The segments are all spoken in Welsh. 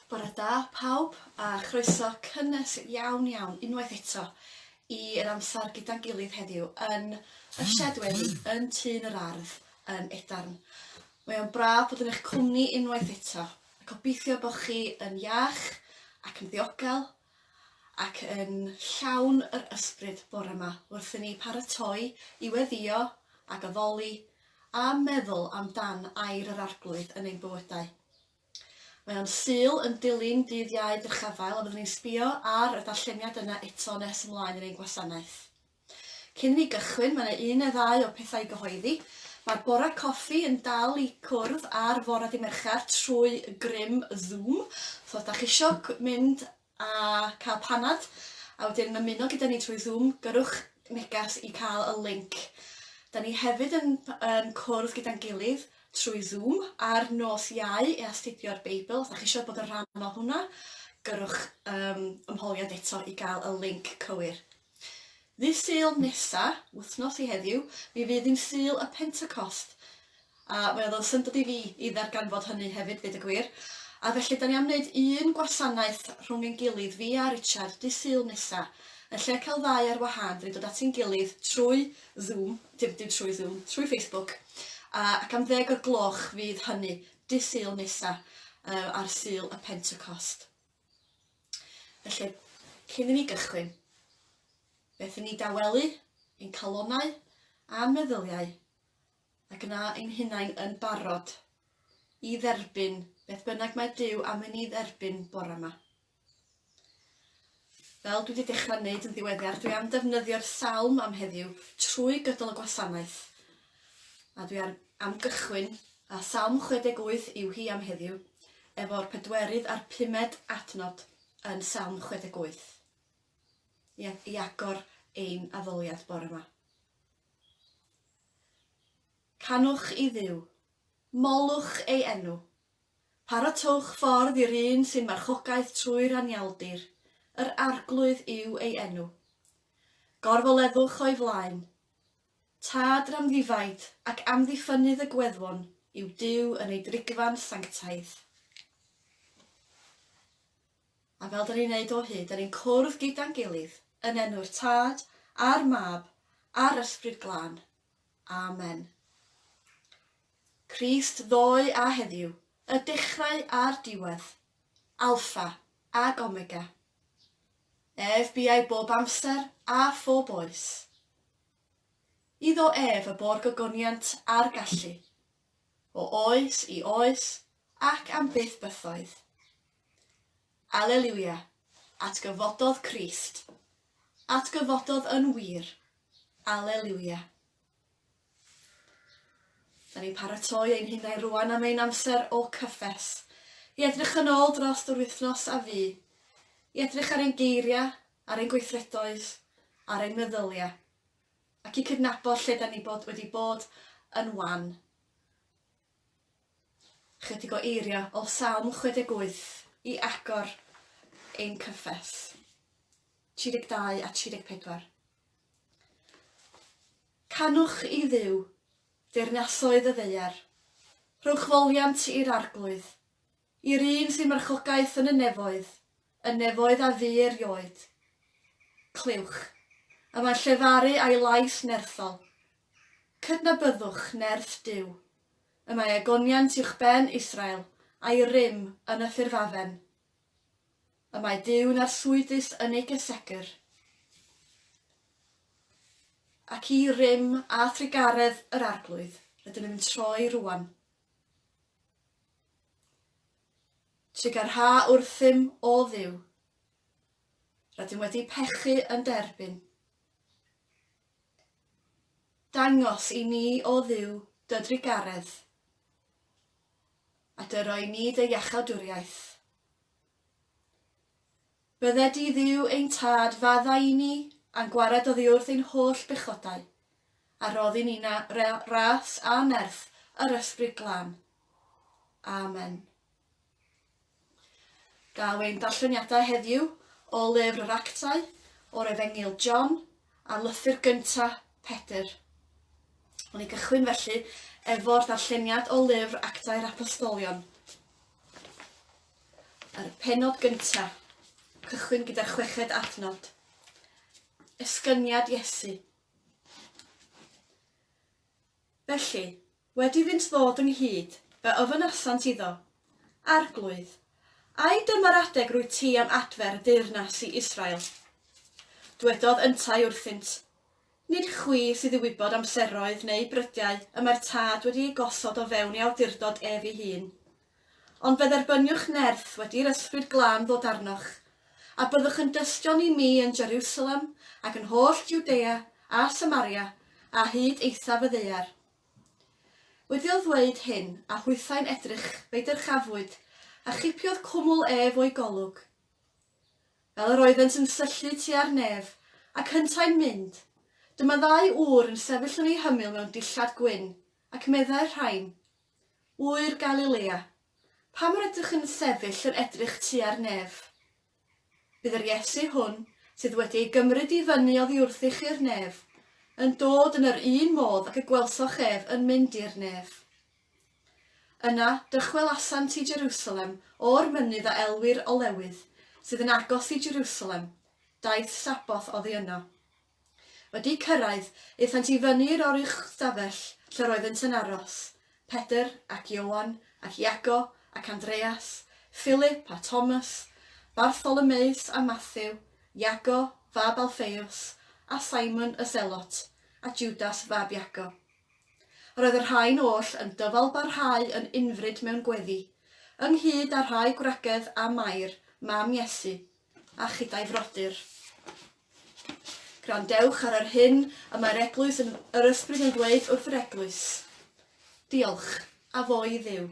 Bore da pawb a chroeso cynnes iawn iawn unwaith eto i yr amser gyda'n gilydd heddiw yn y shed wely yn Tŷ yn yr Ardd yn Edarn. Mae o'n braf bod yn eich cwmni unwaith eto. Gobeithio bod chi yn iach ac yn ddiogel ac yn llawn yr ysbryd bore 'ma wrth i ni paratoi i weddïo ac addoli a meddwl am dan air yr Arglwydd yn ein bywydau. Mae o'n Sul yn dilyn dydd Iau Dyrchafael a fyddwn ni'n sbio ar y darlleniad yna eto nes ymlaen yn ein gwasanaeth. Cyn i ni gychwyn, mae 'na un neu ddau o pethau i gyhoeddi. Mae'r Bore Coffi yn dal i cwrdd ar fore Dydd Mercher trwy grym Zoom. So os 'da chi isio mynd a cael panad a wedyn ymuno gyda ni trwy Zoom, gyrrwch neges i cael y linc. Da ni hefyd yn yn cwrdd gyda'n gilydd trwy Zoom ar nos Iau i astudio'r Beibl. Os 'da chi isio bod yn rhan o hwnna, gyrrwch um, ymholiad eto i gael y linc cywir. Ddydd Sul nesa, wythnos i heddiw, mi fydd hi'n Sul y Pentecost, a fe oedd o'n syndod i fi i ddarganfod hynny hefyd, dweud y gwir. A felly, 'da ni am wneud un gwasanaeth rhwng ein gilydd, fi a Richard, Dydd Sul nesa. Yn lle cael ddau ar wahân, 'da ni'n dod at ein gilydd trwy Zoom, dim dim trwy Zoom, trwy Facebook, a ac am ddeg o'r gloch fydd hynny, Dydd Sul nesa, yy ar Sul y Pentecost. Felly, cyn i ni gychwyn, beth i ni dawelu, ein calonau a'n meddyliau, ac yna ein hunain yn barod i dderbyn beth bynnag mae Duw am i ni dderbyn bore yma. Fel dwi wedi dechrau wneud yn ddiweddar, dwi am ddefnyddio'r salm am heddiw trwy gydol y gwasanaeth A dwi ar, am gychwyn, a Salm 68 yw hi am heddiw, efo'r pedwerydd a'r pumed adnod yn Salm 68, i, i agor ein addoliad bore yma. Canwch i ddiw, molwch ei enw, paratowch ffordd i'r un sy'n marchogaeth trwy'r anialdir, yr arglwydd yw ei enw. Gorfoleddwch o'i flaen, Tad ramddifaid ac amddiffynnydd y gweddfon yw Duw yn ei drigfan sanctaidd. A fel 'da ni'n neud o hyd, 'da ni'n cwrdd gyda'n gilydd yn enw'r Tad, a'r Mab, a'r Ysbryd Glân. Amen. Crist ddoe a heddiw, y dechrau a'r diwedd, Alpha ag Omega. Ef buai bob amser a phob oes. Iddo ef y bo'r gogoniant a'r gallu, o oes i oes ac am byth bythoedd. Aleliwia, atgyfododd Crist, atgyfododd yn wir, Aleliwia. Da ni'n paratoi ein hunain rwan am ein amser o cyffes. I edrych yn ôl dros yr wythnos a fu. I edrych ar ein geiriau, ar ein gweithredoedd, ar ein meddyliau. Ac i cydnabod lle da ni bod wedi bod yn wan. Chydig o eiriau o Salm 68 i agor ein cyffes. 32 a 34. Canwch i Dduw, deyrnasoedd y ddaear, rhowch foliant i'r arglwydd, i'r un sy'n marchogaeth yn y nefoedd, y nefoedd a fu erioed. Clywch, y mae'n llefaru a'i lais nerthol. Cydnabyddwch nerth Duw, y mae egoniant uwchben Israel a'i rym yn y ffurfafen. Y mae Duw yn arswydus yn ei gysegr, ac i rym a thrugaredd yr Arglwydd rydym yn troi rŵan. Trugarha wrthym, o Dduw. Rydym wedi pechu yn derbyn. Dangos i ni, O Dduw, dy drugaredd, a dy roi ni dy iachawdwriaeth. Bydde di, Dduw, ein Tad, faddau i ni, a'n gwared oddiwrth ein holl bechodau, a rhodd i ni na ras a nerth yr Ysbryd Glân. Amen. Daw ein darlleniadau heddiw o lyfr yr Actau o'r Efengyl John a lythyr gyntaf Pedr. Wn i gychwyn felly efo'r darlleniad o lyfr Actau'r Apostolion. Yr penod gyntaf, cychwyn gyda'r chweched adnod. Esgyniad Iesu. Felly, Wedi iddynt ddod ynghyd, fe ofynasant iddo, Arglwydd, ai dyma'r adeg rwyt ti am adfer y deyrnas i Israel? Dwedodd yntau wrthynt, Nid chwi sydd i wybod amseroedd neu brydiau y mae'r Tad wedi eu gosod o fewn ei awdurdod ef ei hun. Ond fe dderbyniwch nerth wedi i'r Ysbryd Glân ddod arnoch, a byddwch yn dystion i mi yn Jeriwsalem ac yn holl Jwdea a Samaria a hyd eithaf y ddaear. Wedi'l ddweud hyn, a hwythau'n edrych, fe'i dyrchafwyd, a chipiodd cwmwl ef o'i golwg. Fel yr oeddent yn syllu tua'r nef, ac hyntau'n mynd, dyma ddau ŵr yn sefyll yn ei hymyl mewn dillad gwyn, ac meddai'r rhain, Ŵyr Galilea, pam yr ydych yn sefyll yn edrych tua'r nef? Bydd yr Iesu hwn, sydd wedi ei gymryd i fyny oddiwrthy chi'r nef, yn dod yn yr un modd ag y gwelsoch ef yn mynd i'r nef. Yna, dychwelasant i Jerusalem o'r mynydd a elwir Olewydd, sydd yn agos i Jerusalem, daeth Sabboth oddi yno. Wedi cyrraedd, aethant i fyny i'r oruchstafell lle roeddynt yn aros, Pedr ac Ioan ac Iago ac Andreas, Philip a Thomas, Bartholomeus a Mathew, Iago, fab Alffeus, a Simon y Selot, a Judas fab Iago. Roedd y rhain oll yn dyfalbarhau yn unfryd mewn gweddi, ynghyd â rhai gwragedd a Mair, mam Iesu, a chydau frodyr. Gwrandewch ar yr hyn y mae'r Eglwys yn yr Ysbryd yn ddweud wrth yr Eglwys. Diolch, a fo i Dduw.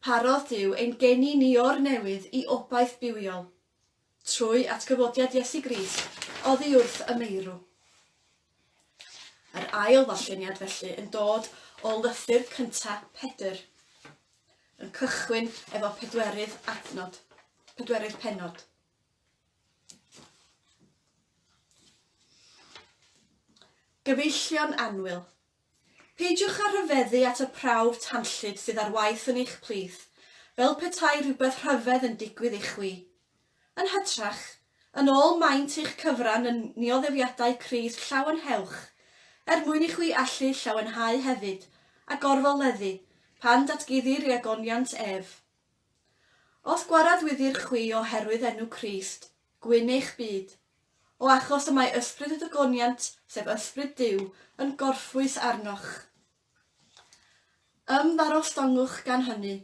Parodd Duw ein geni ni o'r newydd i obaith bywiol, trwy atgyfodiad Iesu Grist, oddi wrth y meirw. Yr ail ddarlleniad felly yn dod o lythyr cynta Pedr, yn cychwyn efo pedwerydd adnod, pedwerydd penod. Gyfeillion anwyl, Peidiwch â rhyfeddu at y prawf tanllyd sydd ar waith yn eich plith, fel petai rhywbeth rhyfedd yn digwydd i chwi. Yn hytrach, yn ôl maint eich cyfran yn nioddefiadau Crist llawenhewch, er mwyn i chwi allu llawenhau hefyd, a gorfoleddu, pan datguddir i agoniant ef. Os gwaradwyddir chwi oherwydd enw Crist, Gwyn eich byd. O achos y mae Ysbryd y Dygoniant, sef Ysbryd Duw, yn gorffwys arnoch. Ymddangosongwch gan hynny,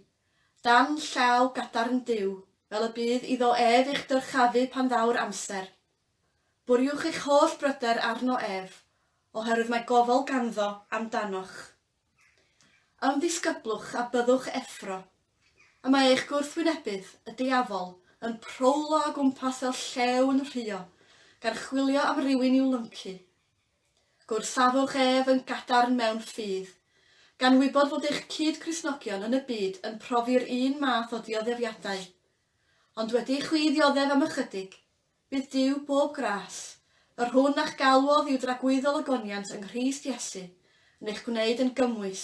dan llaw gadarn Duw, fel y bydd iddo ef eich dyrchafu pan ddaw'r amser. Bwriwch eich holl bryder arno ef, oherwydd mae gofal ganddo am danoch. Ymddisgyblwch a byddwch effro. Y mae eich gwrthwynebydd, y diafol, yn prowlo o gwmpas fel llew yn rhuo, gan chwilio am rywun i'w lyncu. Gwrthafwch ef yn gadarn mewn ffydd. Gan wybod fod eich cyd-Gristnogion yn y byd yn profi'r un math o ddioddef-iadau. Ond wedi i chwi ddioddef am ychydig, Bydd Duw bob gras, yr hwn a'ch galwodd i'w dragwyddol ogoniant yng Nghrist Iesu, yn eich gwneud yn gymwys,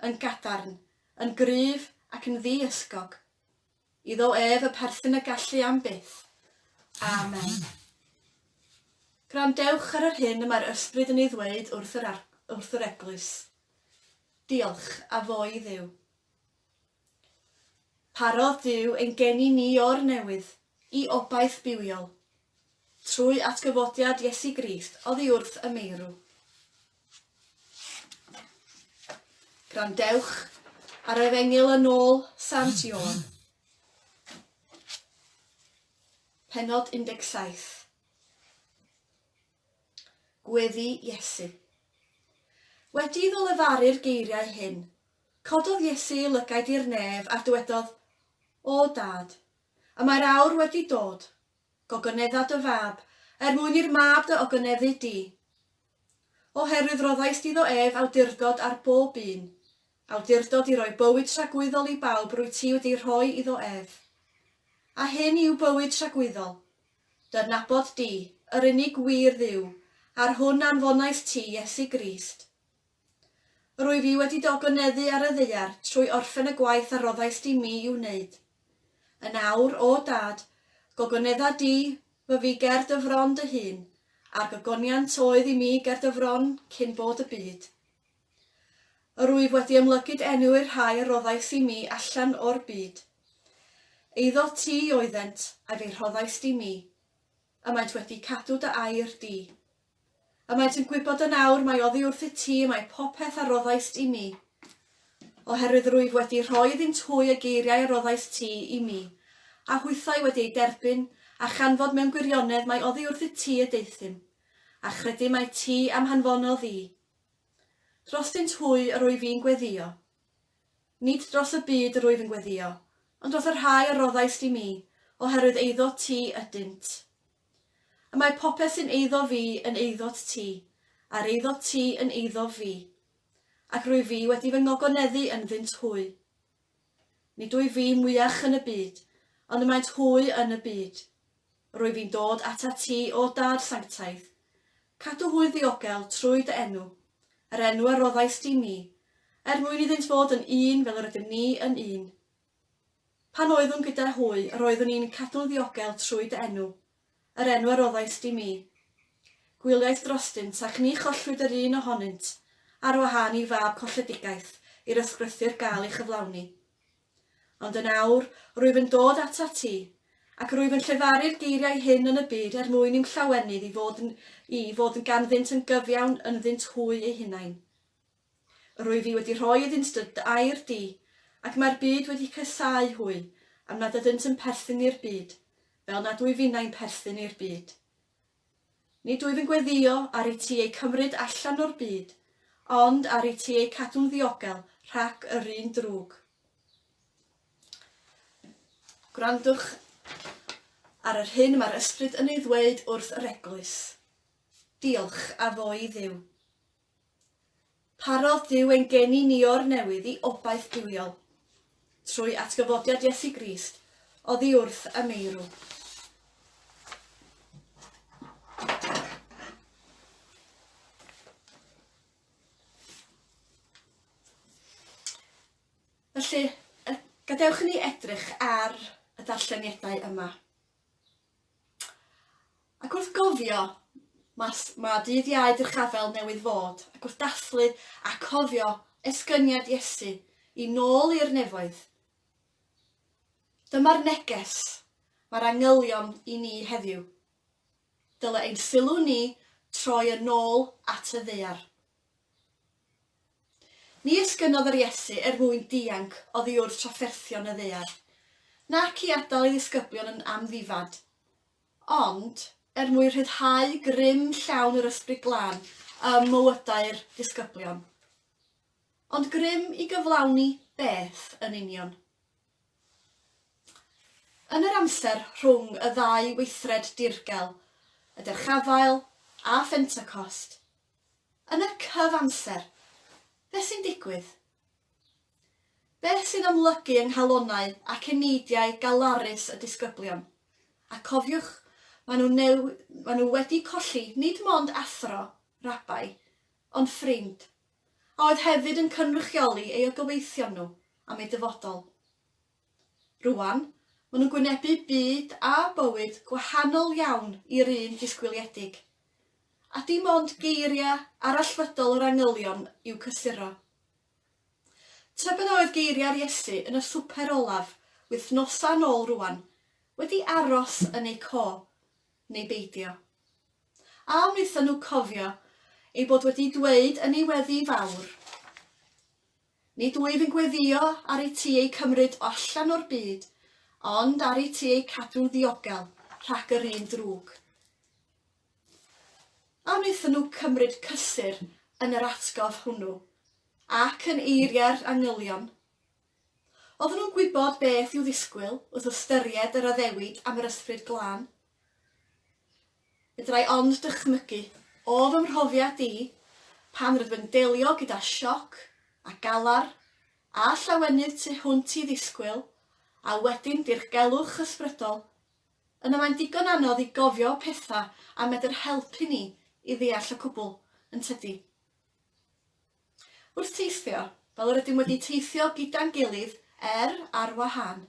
yn gadarn, yn gryf, ac yn ddi-ysgog. Iddo ef y perthyn y gallu am byth. Amen. Gwrandewch ar yr hyn y mae'r Ysbryd yn ei ddweud wrth yr, wrth yr Eglwys. Diolch, a fo i Dduw. Parodd Duw ein geni ni o'r newydd i obaith bywiol. Trwy atgyfodiad Iesu Grist oddi wrth y meirw. Grandewch ar Efengyl yn ôl Sant Ioan. Penod 17. Gweddi Iesu. Wedi iddo lefaru'r geiriau hyn, Cododd Iesu ei lygaid i'r nef a dywedodd, O Dad, y mae'r awr wedi dod, gogonedda dy fab, er mwyn i'r mab dy ogoneddu di. Oherwydd roddaist iddo ef awdurdod ar bob un, awdurdod i roi bywyd tragwyddol i bawb rwyt ti wedi rhoi iddo ef. A hyn yw bywyd tragwyddol, dy adnabod di, yr unig wir Dduw, a'r hwn anfonais ti, Iesu Grist. Rwyf i wedi dogynneddu ar y ddaear trwy orffen y gwaith a roddais di mi i'w wneud. Yn awr, O Dad, gogynedda di fy fi ger dy fron dy hun, a'r gogoniant oedd i mi ger dy fron cyn bod y byd. Rwyf wedi ymlygyd enw i'r rhai a roddais i mi allan o'r byd. Eiddo ti oeddent, a fe rhoddais di mi. A maent wedi cadw dy air di. A maent yn gwybod yn awr mai oddi wrthyt ti y mae popeth a roddaist i mi, oherwydd rwyf wedi rhoi iddynt hwy y geiriau a roddaist ti i mi, a hwythau wedi eu derbyn, a chanfod mewn gwirionedd mai oddi wrthyt ti y deuthum, a chredu mai ti am hanfonodd i drostynt hwy yr wyf i'n gweddïo. Nid dros y byd yr wyf yn gweddïo, ond dros y rhai a roddais di mi, oherwydd eiddo ti ydynt. Y mae popeth sy'n eiddo fi yn eiddot ti, a'r eiddot ti yn eiddof fi, ac rwyf fi wedi fy ngogoneddu ynddynt hwy. Nid wyf fi mwyach yn y byd, ond y maent hwy yn y byd. Rwyf i'n dod atat ti, O Dad sanctaidd, Cadw hwy ddiogel trwy dy enw, yr enw a roddaist i mi, er mwyn iddynt fod yn un fel yr ydym ni yn un. Pan oeddwn gyda hwy, yr oeddwn i'n cadw'n ddiogel trwy dy enw, yr enw a roddaist i mi. Gwyliais drostynt, ac ni chollwyd yr un ohonynt, ar wahân i fab colledigaeth i'r ysgrythur gael ei chyflawni. Ond yn awr, rwyf yn dod atat ti, ac rwyf yn llefaru'r geiriau hyn yn y byd er mwyn i'm llawenydd i fod yn i fod yn ganddynt yn gyfiawn ynddynt hwy eu hunain. Yr wyf i wedi rhoi iddynt dy air di, ac mae'r byd wedi casáu hwy, am nad ydynt yn perthyn i'r byd, fel nad wyf innau'n perthyn i'r byd. Nid wyf yn gweddïo ar i ti eu cymryd allan o'r byd, ond ar i ti eu cadw'n ddiogel rhac yr un drwg. Gwrandwch ar yr hyn mae'r Ysbryd yn ei ddweud wrth yr Eglwys. Diolch a fo i Dduw. Parodd Duw ein geni ni o'r newydd i obaith duwiol. Trwy atgyfodiad Iesu Grist, oddi wrth y meirw. Felly, gadewch i ni edrych ar y darlleniadau yma. Ac wrth gofio, mae ma dydd iau drchafel newydd fod, ac wrth dathlu a cofio esgyniad Iesu i nôl i'r nefoedd. Dyma'r neges mae'r angylion i ni heddiw. Dyle ein sylw ni troi yn ôl at y ddaear. Ni esgynodd yr Iesu er mwyn dianc oddi wrth trafferthion y ddaear, nac i adael ei ddisgyblion yn amddifad, ond er mwyn rhyddhau grym llawn yr Ysbryd Glân ym mywydau'r disgyblion. Ond grym i gyflawni beth yn union? Yn yr amser rhwng y ddau weithred dirgel, y Dyrchafael a Phentecost, Yn y cyfamser, beth sy'n digwydd? Beth sy'n amlygu yng nghalonnau ac eneidiau galarus y disgyblion? A cofiwch, maen nhw neu maen nhw wedi colli nid mond athro, rabai, ond ffrind, a oedd hefyd yn cynrychioli ei ogyweithion nhw am eu dyfodol. Rŵan, maen nhw'n gwynebu byd a bywyd gwahanol iawn i'r un disgwyliedig. A dim ond geiriau arallfydol yr angylion i'w cysuro. Tybed a oedd geiriau'r Iesu yn y swper olaf wythnosau yn ôl rŵan wedi aros yn eu co, neu beidio? A wnaethon nhw cofio ei bod wedi dweud yn ei weddi fawr, Nid wyf yn gweddïo ar i ti eu cymryd o allan o'r byd, ond ar i ti eu cadw'n ddiogel rhag yr un drwg. A wnaethon nhw cymryd cysur yn yr atgof hwnnw, ac yn eiriau'r angylion? Oedden nhw'n gwybod beth i'w ddisgwyl wrth ystyried yr addewid am yr Ysbryd Glân? Fedra i ond dychmygu, o fy mhrofiad i, pan rydw yn delio gyda sioc a galar a llawenydd tu hwnt i ddisgwyl a wedyn dirgelwch ysbrydol, yna mae'n digon anodd i gofio pethau a medr helpu ni i ddeall y cwbl, yn tydi? Wrth teithio, fel yr ydym wedi teithio gyda'n gilydd er ar wahân,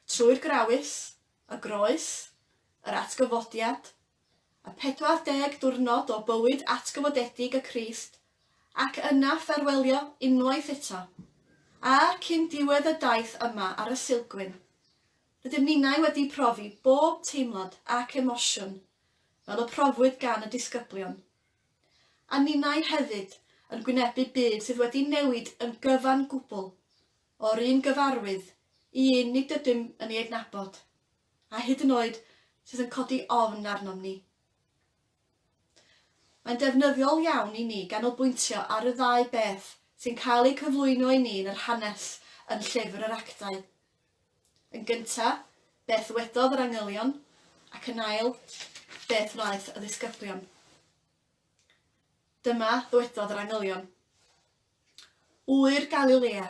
trwy'r Grawys, y groes, yr atgyfodiad, y 40 diwrnod o bywyd atgyfodedig y Crist, ac yna ffarwelio unwaith eto, a, cyn diwedd y daith yma ar y silgwyn, rydym ninau wedi profi bob teimlad ac emosiwn fel y profwyd gan y disgyblion. A ninau hefyd yn gwynebu byd sydd wedi newid yn gyfan gwbl, o'r un gyfarwydd i un nid ydym yn ei adnabod, a hyd yn oed sydd yn codi ofn arnom ni. Mae'n defnyddiol iawn i ni ganolbwyntio ar y ddau beth sy'n cael eu cyflwyno i ni yn yr hanes yn Llyfr yr Actau. Yn gyntaf, beth wedodd yr angylion, ac yn ail, beth wnaeth y ddisgyblion. Dyma ddywedodd yr angylion. Ŵyr Galilea,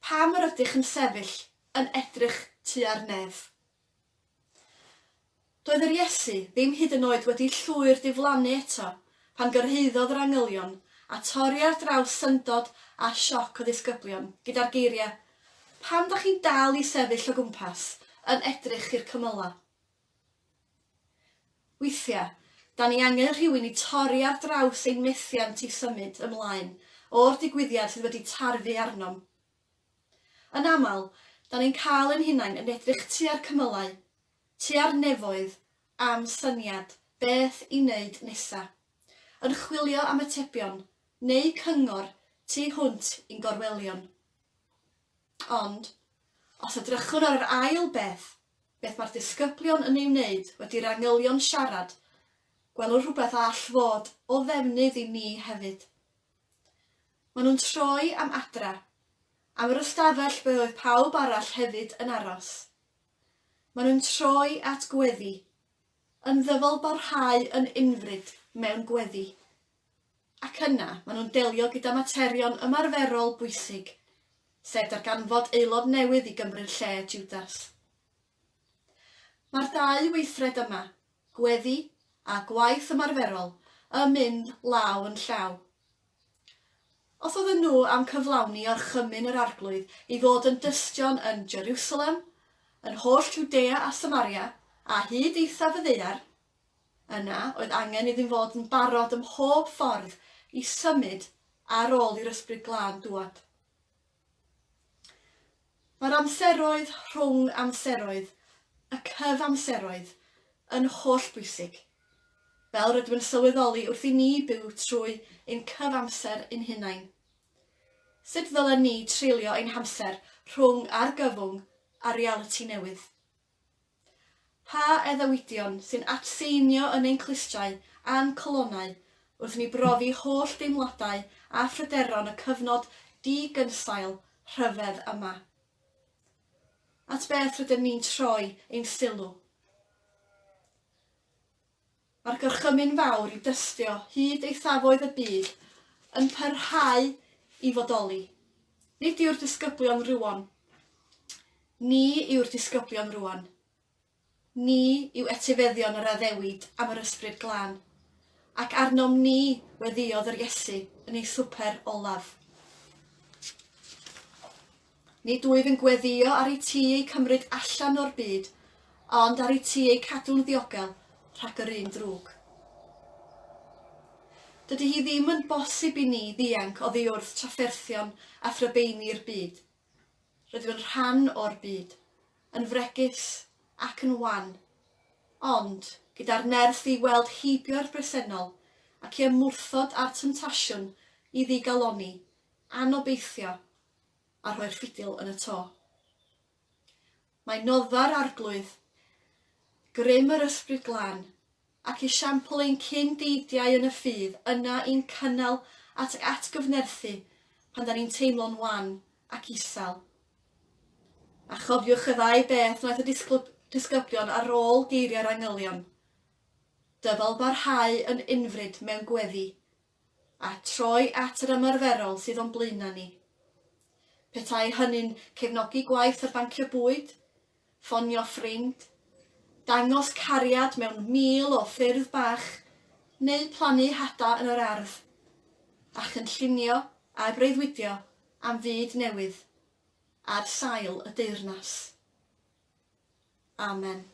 pam yr ydych yn sefyll yn edrych tua'r nef? Doedd yr Iesu ddim hyd yn oed wedi llwyr diflannu eto pan gyrhaeddodd yr angylion a torri ar draws syndod a sioc y ddisgyblion gyda'r geiriau, Pam da chi'n dal i sefyll o gwmpas yn edrych i'r cymylau? Weithiau, dan ni angen rhywun i torri ar draws ein methiant i symud ymlaen o'r digwyddiad sydd wedi tarfu arnom. Yn aml, dan ni'n cael ein hunain yn edrych tua'r cymylau, tua'r nefoedd, am syniad beth i wneud nesa', yn chwilio am atebion neu cyngor tu hwnt i'n gorwelion. Ond, os edrychwn ar yr ail beth, beth mae'r disgyblion yn ei wneud wedi'r angylion siarad, gwelwn rhywbeth a all fod o ddefnydd i ni hefyd. Maen nhw'n troi am adra, am yr ystafell be oedd pawb arall hefyd yn aros. Maen nhw'n troi at gweddi, yn ddyfalbarhau yn unfryd mewn gweddi, Ac yna, maen nhw'n delio gyda materion ymarferol bwysig, sef darganfod aelod newydd i gymryd lle Tiwdas. Mae'r dau weithred yma, gweddi a gwaith ymarferol, yn mynd law yn llaw. Os oedden nhw am cyflawni orchymyn yr Arglwydd i fod yn dystion yn Jerusalem, yn holl Jwdea a Samaria, a hyd eithaf y ddaear, Yna, oedd angen iddyn fod yn barod ym mhob ffordd i symud ar ôl i'r Ysbryd Glân dŵad. Mae'r amseroedd rhwng amseroedd, y cyfamseroedd, yn hollbwysig, fel rydym yn sylweddoli wrth i ni byw trwy ein cyfamser ein hunain. Sut ddylen ni treulio ein hamser rhwng argyfwng a realiti newydd? Pa addewidion sy'n atseinio yn ein clustiau a'n calonnau wrth i ni brofi holl deimladau a phryderon y cyfnod di-gynsail rhyfedd yma? At beth rydym ni'n troi ein sylw? Mae'r gorchymyn fawr i dystio hyd eithafoedd y byd yn parhau i fodoli. Nid yw'r disgyblion rywon. Ni yw'r disgyblion rwan. Ni yw etifeddion yr addewid am yr Ysbryd Glân. Ac arnom ni weddïodd yr Iesu yn ei swper olaf. Nid wyf yn gweddïo ar IT eu cymryd allan o'r byd, ond ar IT eu cadw'n ddiogel rhag yr un drwg. Dydy hi ddim yn bosib i ni ddianc oddi wrth trafferthion a thrybeini'r byd. Rydw yn rhan o'r byd, yn fregus ac yn wan, ond gyda'r nerth i weld heibio'r bresennol ac i ymwrthod â'r temtasiwn i ddigalonni, anobeithio a rhoi'r ffidil yn y to. Mae noddfa'r arglwydd, grym yr Ysbryd Glân, ac esiampl ein cyn deidiau yn y ffydd yna i'n cynnal at ac atgyfnerthu pan da ni'n teimlo'n wan ac isel. A chofiwch y ddau beth wnaeth y disgyblion ar ôl geiriau'r angylion. Dyfal barhau yn unfryd mewn gweddi a troi at yr ymarferol sydd o'n blaenau ni. Petai hynny'n cefnogi gwaith ar bancio bwyd, ffonio ffrind, dangos cariad mewn mil o ffyrdd bach, neu plannu hada yn yr ardd, a chynllunio a breuddwydio am fyd newydd ar sail y deyrnas. Amen.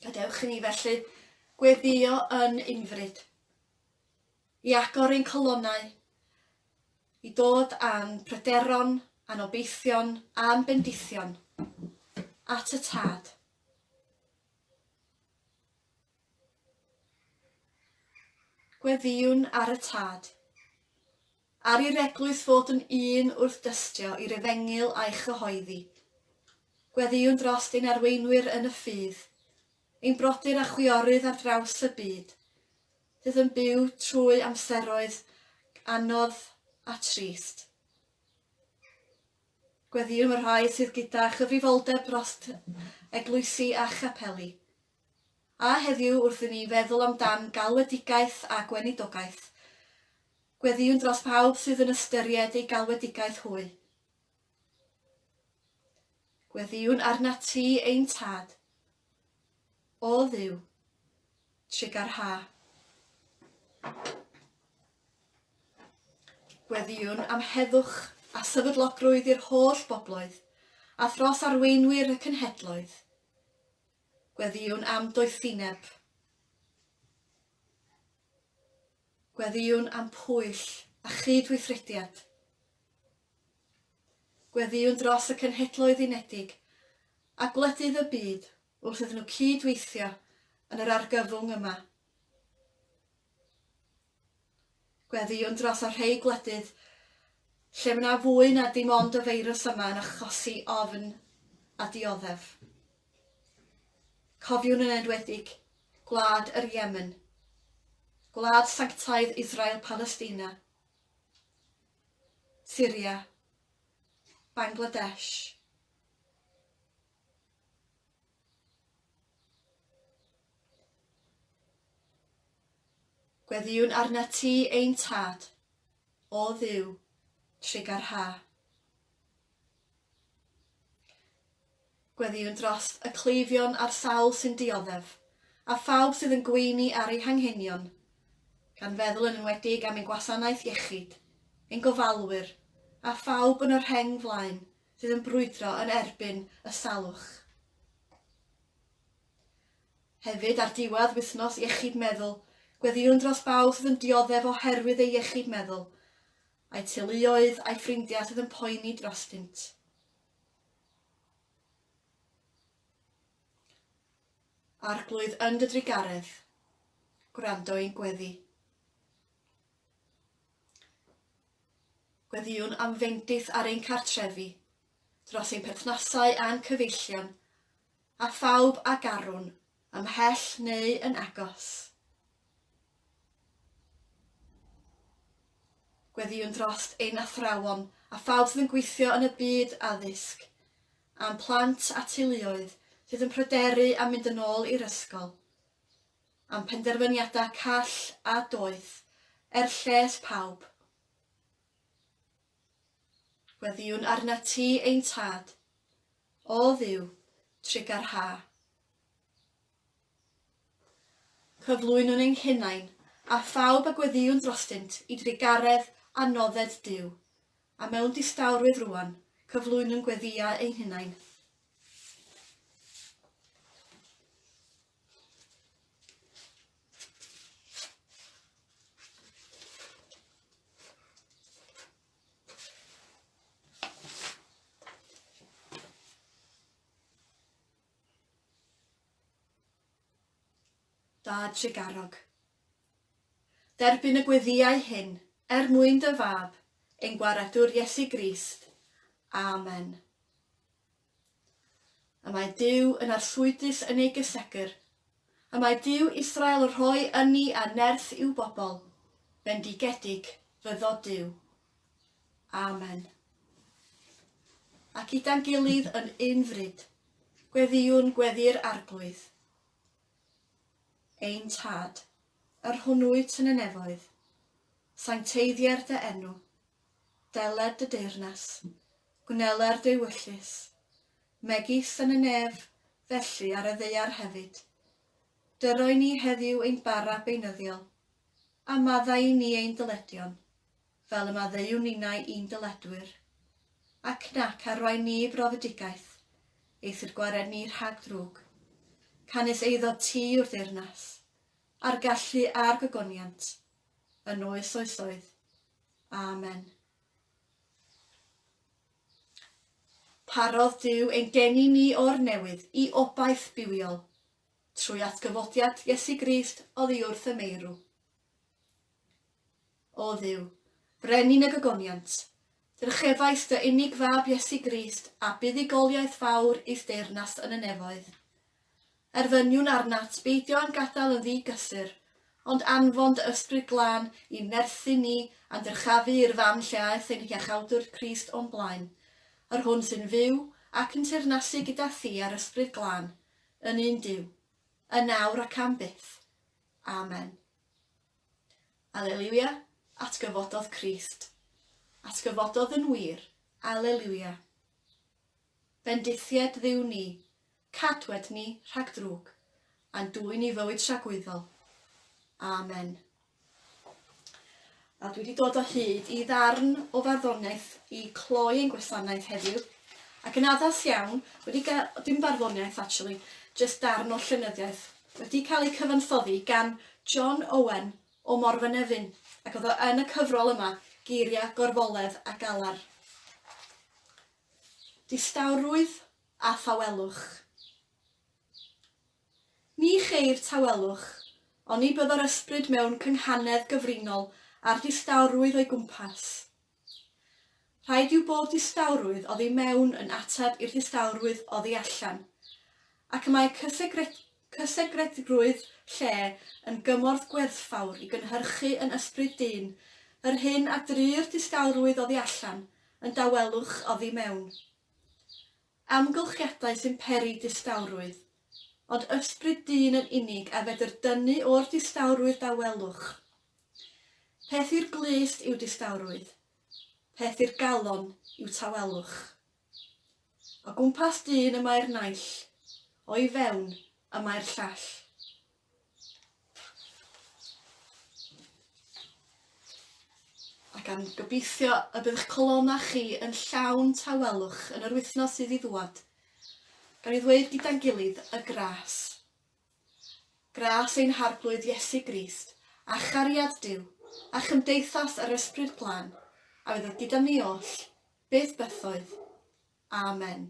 Gadewch i ni felly gweddio yn unfryd, i agor ein colonnau, i dod â'n pryderon, a'n obeithion, a'n bendithion at y tad. Gweddïwn ar y Tad. Ar i'r Eglwys fod yn un wrth dystio i'r Efengyl a'i chyhoeddi. Gweddïwn drost ein arweinwyr yn y ffydd, ein brodyr a chwiorydd ar draws y byd, sydd yn byw trwy amseroedd anodd a trist. Gweddïwn y rhai sydd gyda chyfrifoldeb drost eglwysi a chapeli. A heddiw wrth i ni feddwl amdan galwedigaeth a gweinidogaeth, gweddïwn dros bawb sydd yn ystyried ei galwedigaeth hwy. Gweddïwn arnat ti, ein Tad. O Dduw, trugarha. Gweddïwn am heddwch a sefydlogrwydd i'r holl bobloedd, a thros arweinwyr y cenhedloedd. Gweddïwn am doethineb. Gweddïwn am pwyll a chyd-weithrediad. Gweddïwn dros y Cenhedloedd Unedig a gwledydd y byd wrth iddyn nhw cyd-weithio yn yr argyfwng yma. Gweddïwn dros y rhei gwledydd lle mae yna fwy na dim ond y feirws yma yn achosi ofn a dioddef. Cofiwn yn enwedig gwlad yr Yemen, gwlad sanctaidd Israel Palestina, Syria, Bangladesh, Gweddïwn arnat ti, ein Tad, o Dduw, trugarha. Gweddïwn dros y cleifion a'r sawl sy'n dioddef, a phawb sydd yn gweini ar eu hanghenion, gan feddwl yn enwedig am ein gwasanaeth iechyd, ein gofalwyr, a phawb yn y rheng flaen sydd yn brwydro yn erbyn y salwch. Hefyd, ar diwedd Wythnos Iechyd Meddwl, gweddïwn dros bawb sydd yn dioddef oherwydd eu iechyd meddwl, a'u teuluoedd a'u ffrindiau sydd yn poeni drostynt. Arglwydd yn dy drugaredd, gwrando i'n gweddi. Gweddïwn am fendith ar ein cartrefi, dros ein perthnasau a'n cyfeillion, a phawb a garwn, ymhell neu yn agos. Gweddïwn drost ein athrawon a phawb sydd yn gweithio yn y byd addysg, a'n plant a teuluoedd sydd yn pryderu am mynd yn ôl i'r ysgol, am penderfyniadau call a doeth, er lles pawb. Gweddïwn arnat ti, ein Tad, o Dduw, trig a'r ha. Cyflwynwn ein hunain, a phawb a gweddïwn drostynt, i drugaredd a nodded Duw, a mewn distawrwydd rŵan, cyflwynwn gweddïau ein hunain. Dad Tregarog. Derbyn y gweddiau hyn, er mwyn dy fab, ein gwaredwr Iesu Grist. Amen. Y mae Duw yn arswydus yn ei gysegr. Y mae Duw Israel rhoi ynni a nerth i'w bobl, bendigedig fyddo Duw. Amen. Ac gyda'n gilydd yn un fryd, gweddiwn gweddi'r arglwydd. Ein Tad, yr hwnnwyt yn y nefoedd, sancteiddier dy enw, deled dy deyrnas, Gwneler dewyllys, megis yn y nef, felly ar y ddaear hefyd. Dyroi ni heddiw ein bara beunyddiol, a maddau i ni ein dyledion, fel y maddeuwn ninnau i'n dyledwyr, ac nac arwain ni i brofedigaeth, eithr gwared ni rhag drwg. Canys eiddo ti yw'r deyrnas, a'r gallu a'r gogoniant, yn oes oesoedd. Amen. Parodd Duw ein geni ni o'r newydd i obaith bywiol, trwy atgyfodiad Iesu Grist oddi wrth y meirw. O Dduw, Brenin y gogoniant, drychefais dy unig Fab Iesu Grist a buddugoliaeth fawr i'th deyrnas yn y nefoedd, Erfyniwn arnat beidio â'n gadael yn ddi-gysur, ond anfon dy Ysbryd Glân i nerthu ni a dyrchafu i'r fan lle aeth ein Hiachawdwr Crist o'n blaen, yr Hwn sy'n fyw ac yn teyrnasu gyda Thi a'r Ysbryd Glân, yn un Duw, yn nawr ac am byth. Amen. Aleliwia, atgyfododd Crist. Atgyfododd yn wir. Aleliwia. Bendithied Dduw ni, Cadwet ni rhag drwg, a'n dwyn i fywyd tragwyddol. Amen. A dwi wedi dod o hyd i ddarn o farddoniaeth i cloi ein gwasanaeth heddiw, ac yn addas iawn, wedi gael, dim barddoniaeth actually, just darn o llenyddiaeth, wedi cael ei cyfansoddi gan John Owen o Morfynefin, ac oedd o yn y cyfrol yma, Geiriau Gorfoledd a Galar. Distawrwydd a thawelwch. Ni cheir tawelwch, oni bydd yr ysbryd mewn cynghanedd gyfrinol â'r distawrwydd o'i gwmpas. Rhaid yw bob distawrwydd oddi mewn yn ateb i'r distawrwydd oddi allan, ac y mae cysegred, cysegredrwydd lle yn gymorth gwerthfawr i gynhyrchu yn ysbryd dyn yr hyn a dry'r distawrwydd oddi allan yn dawelwch oddi mewn. Amgylchiadau sy'n peri distawrwydd. Ond ysbryd dyn yn unig a fedr dynnu o'r distawrwydd dawelwch. Peth i'r glust yw distawrwydd. Peth i'r galon yw tawelwch. O gwmpas dyn y mae'r naill. O'i fewn y mae'r llall. Ac am gobeithio y bydd eich colonnau chi yn llawn tawelwch yn yr wythnos sydd i ddŵad. Gan i ddweud gyda'n gilydd y gras. Gras ein Harglwydd Iesu Grist, a chariad Duw, a chymdeithas yr Ysbryd Glân, a fydd oedd gyda ni oll, byth bythoedd. Amen.